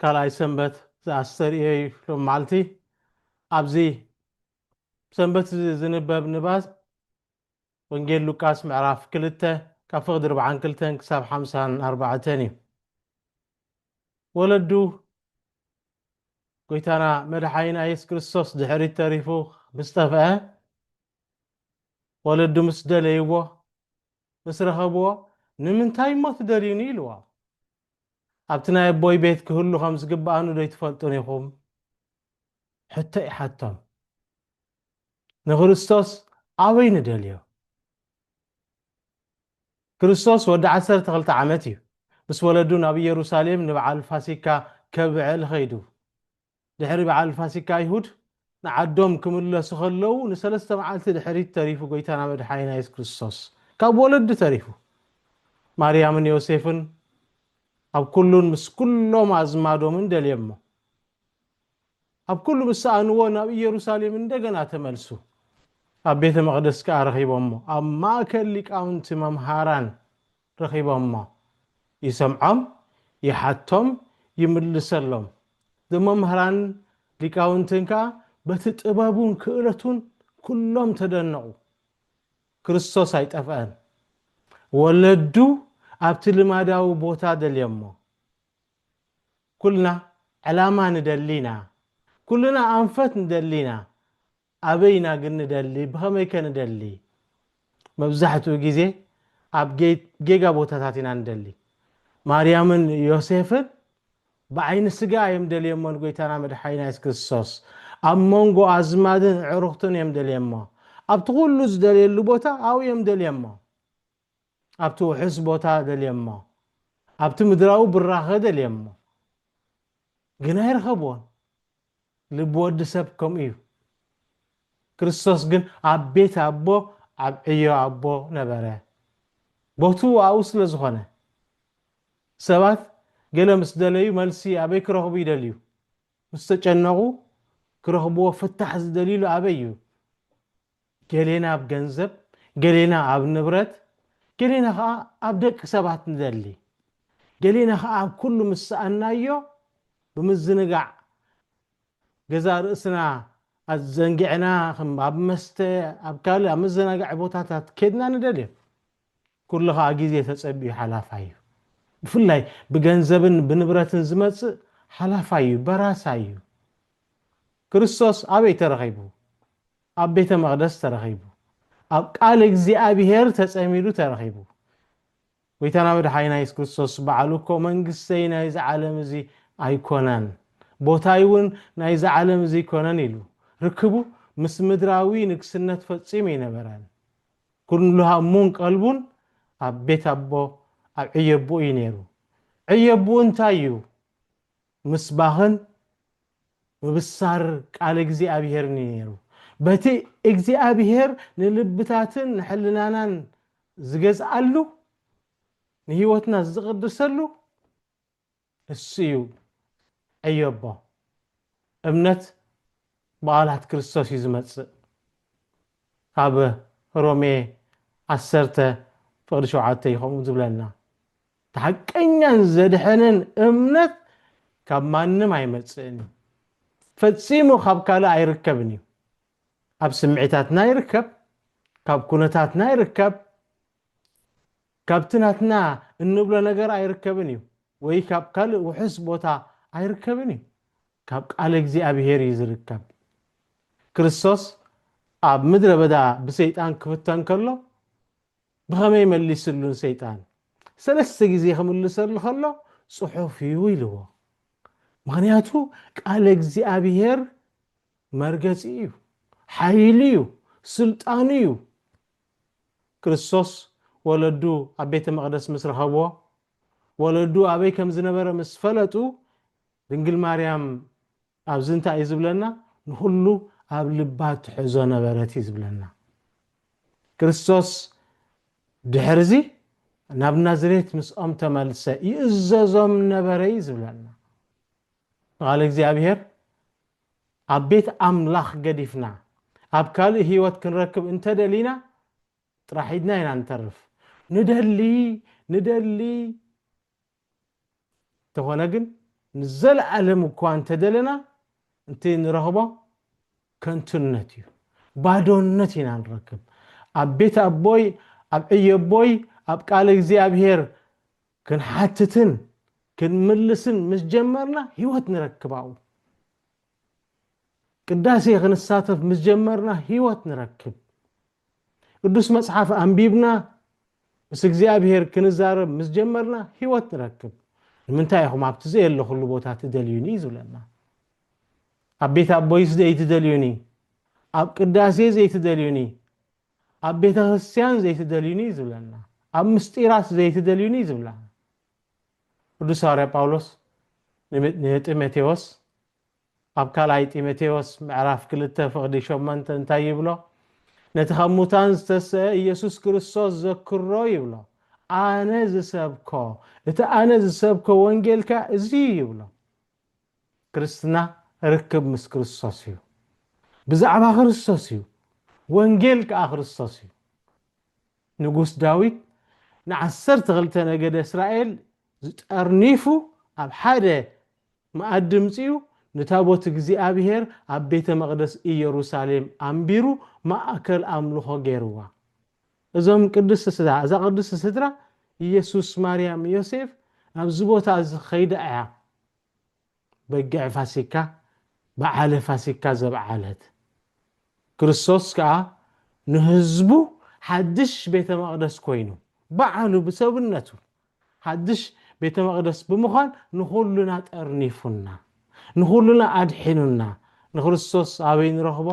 ካልኣይ ሰንበት ዘኣስተርእዮ እዩ ሎሚ መዓልቲ ኣብዚ ሰንበት እዚ ዝንበብ ንባብ ወንጌል ሉቃስ ምዕራፍ ክልተ ካብ ፍቕዲ ርብዓን ክልተን ክሳብ ሓምሳን ኣርባዕተን እዩ ወለዱ ጎይታና መድሓይና የሱስ ክርስቶስ ድሕሪት ተሪፉ ምስ ጠፍአ ወለዱ ምስ ደለይዎ ምስ ረኸብዎ ንምንታይ እሞ ትደልዩኒ ኢልዎ ኣብቲ ናይ ኣቦይ ቤት ክህሉ ከም ዝግብኣኑ ዶ ኣይትፈልጡን ኢኹም? ሕቶ ይሓቶም። ንክርስቶስ ኣበይ ንደልዮ? ክርስቶስ ወዲ ዓሰርተ ክልተ ዓመት እዩ። ምስ ወለዱ ናብ ኢየሩሳሌም ንብዓል ፋሲካ ከብዕል ኸይዱ። ድሕሪ በዓል ፋሲካ ኣይሁድ ንዓዶም ክምለሱ ከለዉ ንሰለስተ መዓልቲ ድሕሪት ተሪፉ ጎይታና መድሓኒና የሱስ ክርስቶስ ካብ ወለዲ ተሪፉ ማርያምን ዮሴፍን ኣብ ኩሉን ምስ ኩሎም ኣዝማዶምን ደልየሞ ኣብ ኩሉ ምስ ሰኣንዎ ናብ ኢየሩሳሌም እንደገና ተመልሱ ኣብ ቤተ መቕደስ ከኣ ረኺቦሞ ኣብ ማእከል ሊቃውንቲ መምሃራን ረኺቦሞ ይሰምዖም ይሓቶም ይምልሰሎም ንመምህራንን ሊቃውንትን ከኣ በቲ ጥበቡን ክእለቱን ኩሎም ተደነቑ ክርስቶስ ኣይጠፍኣን ወለዱ ኣብቲ ልማዳዊ ቦታ ደልዮሞ ኩልና ዕላማ ንደሊ ኢና ኩልና ኣንፈት ንደሊ ኢና ኣበይ ኢና ግን ንደሊ? ብኸመይ ከ ንደሊ? መብዛሕትኡ ግዜ ኣብ ጌጋ ቦታታት ኢና ንደሊ። ማርያምን ዮሴፍን ብዓይኒ ስጋ ኣዮም ደልየሞ ንጎይታና መድሓኒና የሱስ ክርስቶስ። ኣብ መንጎ ኣዝማድን ኣዕሩኽቱን እዮም ደልየሞ። ኣብቲ ኩሉ ዝደልየሉ ቦታ ኣብኡ እዮም ደልየሞ። ኣብቲ ውሑስ ቦታ ደልየሞ፣ ኣብቲ ምድራዊ ብራኸ ደልየሞ፣ ግን ኣይረኸብዎን። ልቢ ወዲ ሰብ ከምኡ እዩ። ክርስቶስ ግን ኣብ ቤት ኣቦ፣ ኣብ ዕዮ ኣቦ ነበረ። ቦትኡ ኣብኡ ስለ ዝኾነ። ሰባት ገለ ምስ ደለዩ መልሲ ኣበይ ክረኽቡ ይደልዩ? ምስ ተጨነቑ ክረኽብዎ ፍታሕ ዝደልዩሉ ኣበይ እዩ? ገሌና ኣብ ገንዘብ፣ ገሌና ኣብ ንብረት፣ ገሌና ከኣ ኣብ ደቂ ሰባት ንደሊ። ገሌና ከኣ ኣብ ኩሉ ምስ ሰኣንናዮ ብምዝንጋዕ ገዛእ ርእስና ኣዘንጊዕና ከም ኣብ መስተ ኣብ ካልእ ኣብ መዘናግዒ ቦታታት ኬድና ንደልዮ። ኩሉ ከኣ ግዜ ተጸቢዩ ሓላፋይ እዩ። ብፍላይ ብገንዘብን ብንብረትን ዝመጽእ ሓላፋይ እዩ፣ በራሳይ እዩ። ክርስቶስ ኣበይ ተረኺቡ? ኣብ ቤተ መቕደስ ተረኺቡ። ኣብ ቃል እግዚኣብሔር ተጸሚዱ ተረኺቡ። ጐይታና መድሓኒና የሱስ ክርስቶስ ባዕሉ እኮ መንግስተይ ናይዚ ዓለም እዚ ኣይኮነን፣ ቦታይ እውን ናይዚ ዓለም እዚ ኣይኮነን ኢሉ። ርክቡ ምስ ምድራዊ ንግስነት ፈጺሙ ኣይነበረን። ኩሉ ሃሙን ቀልቡን ኣብ ቤት ኣቦ ኣብ ዕዮ ኣቦኡ እዩ ነይሩ። ዕዮ ኣቦኡ እንታይ እዩ? ምስባኽን ምብሳር ቃል እግዚኣብሄርን እዩ ነይሩ። በቲ እግዚኣብሄር ንልብታትን ንሕልናናን ዝገዝኣሉ ንህይወትና ዝቕድሰሉ እሱ እዩ ዕዮቦ እምነት ብቓላት ክርስቶስ እዩ ዝመጽእ ካብ ሮሜ ዓሰርተ ፍቕዲ ሸውዓተ እዩ ከምኡ ዝብለና እቲ ሓቀኛን ዘድሕንን እምነት ካብ ማንም ኣይመጽእን እዩ። ፈጺሙ ካብ ካልእ ኣይርከብን እዩ። ኣብ ስምዒታትና ይርከብ፣ ካብ ኩነታትና ይርከብ፣ ካብቲ ናትና እንብሎ ነገር ኣይርከብን እዩ፣ ወይ ካብ ካልእ ውሑስ ቦታ ኣይርከብን እዩ። ካብ ቃል እግዚኣብሄር እዩ ዝርከብ። ክርስቶስ ኣብ ምድረ በዳ ብሰይጣን ክፍተን ከሎ ብኸመይ መሊስሉ ንሰይጣን? ሰለስተ ግዜ ክምልሰሉ ከሎ ጽሑፍ እዩ ኢልዎ። ምኽንያቱ ቃለ እግዚኣብሔር መርገጺ እዩ፣ ሓይሉ እዩ፣ ስልጣኑ እዩ። ክርስቶስ ወለዱ ኣብ ቤተ መቕደስ ምስ ረኸብዎ፣ ወለዱ ኣበይ ከም ዝነበረ ምስ ፈለጡ፣ ድንግል ማርያም ኣብዚ እንታይ እዩ ዝብለና? ንኹሉ ኣብ ልባ ትሕዞ ነበረት እዩ ዝብለና። ክርስቶስ ድሕርዚ ናብ ናዝሬት ምስኦም ተመልሰ ይእዘዞም ነበረ እዩ ዝብለና። ንቓል እግዚኣብሔር ኣብ ቤት ኣምላኽ ገዲፍና ኣብ ካልእ ህይወት ክንረክብ እንተደሊና ጥራሕ ኢድና ኢና ንተርፍ። ንደሊ ንደሊ እንተኾነ ግን ንዘለኣለም እኳ እንተደለና እቲ ንረኽቦ ከንቱነት እዩ፣ ባዶነት ኢና ንረክብ። ኣብ ቤት ኣቦይ፣ ኣብ ዕዮ ኣቦይ፣ ኣብ ቃል እግዚኣብሔር ክንሓትትን ክንምልስን ምስ ጀመርና ህይወት ንረክብ ኣብኡ። ቅዳሴ ክንሳተፍ ምስ ጀመርና ህይወት ንረክብ። ቅዱስ መጽሓፍ ኣንቢብና ምስ እግዚኣብሔር ክንዛረብ ምስ ጀመርና ህይወት ንረክብ ንምንታይ ኢኹም ኣብቲ ዘየለኹሉ ቦታ ትደልዩኒ እዩ ዝብለና ኣብ ቤት ኣቦይስ ዘይትደልዩኒ ኣብ ቅዳሴ ዘይትደልዩኒ ኣብ ቤተ ክርስትያን ዘይትደልዩኒ እዩ ዝብለና ኣብ ምስጢራት ዘይትደልዩኒ እዩ ዝብለና ቅዱስ ሃዋርያ ጳውሎስ ንጢሞቴዎስ ኣብ ካልኣይ ጢሞቴዎስ ምዕራፍ ክልተ ፍቕዲ ሸሞንተ እንታይ ይብሎ? ነቲ ኻብ ሙታን ዝተሰእ ኢየሱስ ክርስቶስ ዘክሮ ይብሎ። ኣነ ዝሰብኮ፣ እቲ ኣነ ዝሰብኮ ወንጌል ከኣ እዚ እዩ ይብሎ። ክርስትና ርክብ ምስ ክርስቶስ እዩ። ብዛዕባ ክርስቶስ እዩ። ወንጌል ከኣ ክርስቶስ እዩ። ንጉስ ዳዊት ንዓሰርተ ክልተ ነገደ እስራኤል ዝጠርኒፉ ኣብ ሓደ መኣዲ ምጺኡ ንታቦት እግዚኣብሔር ኣብ ቤተ መቕደስ ኢየሩሳሌም ኣንቢሩ ማእከል ኣምልኾ ገይርዋ። እዞም ቅድስት ስድራ እዛ ቅድስት ስድራ ኢየሱስ ማርያም ዮሴፍ ኣብዚ ቦታ እዚ ከይዳ እያ። በግዕ ፋሲካ በዓለ ፋሲካ ዘብዓለት፣ ክርስቶስ ከኣ ንህዝቡ ሓድሽ ቤተ መቕደስ ኮይኑ፣ ባዕሉ ብሰብነቱ ሓድሽ ቤተ መቕደስ ብምዃን ንኹሉና ጠርኒፉና፣ ንኹሉና ኣድሒኑና፣ ንክርስቶስ ኣበይ ንረኽቦ?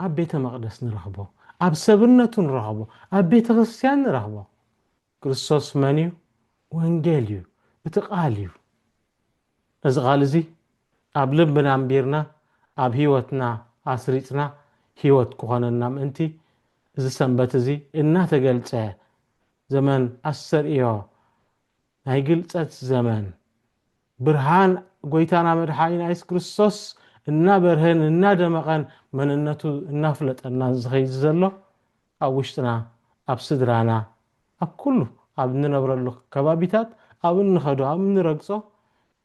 ኣብ ቤተ መቕደስ ንረኽቦ፣ ኣብ ሰብነቱ ንረኽቦ፣ ኣብ ቤተ ክርስቲያን ንረኽቦ። ክርስቶስ መን እዩ? ወንጌል እዩ፣ እቲ ቓል እዩ። ነዚ ቓል እዚ ኣብ ልብና ኣንቢርና ኣብ ህይወትና ኣስሪጽና ህይወት ክኾነና ምእንቲ እዚ ሰንበት እዚ እናተገልጸ ዘመን ኣስተርእዮ ናይ ግልጸት ዘመን ብርሃን ጎይታና መድሓኒና የሱስ ክርስቶስ እናበርሀን እናደመቐን መንነቱ እናፍለጠናን ዝኸይድ ዘሎ ኣብ ውሽጥና ኣብ ስድራና ኣብ ኩሉ ኣብ እንነብረሉ ከባቢታት ኣብ እንኸዶ ኣብ እንረግጾ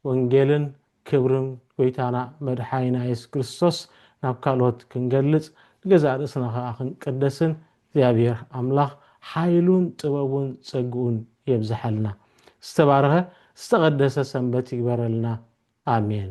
ወንጌልን ክብርን ጎይታና መድሓኒና የሱስ ክርስቶስ ናብ ካልኦት ክንገልጽ ንገዛእ ርእስና ከኣ ክንቅደስን እግዚኣብሔር ኣምላኽ ሓይሉን ጥበቡን ጸግኡን የብዝሓልና ዝተባረኸ ዝተቐደሰ ሰንበት ይግበረልና ኣሜን።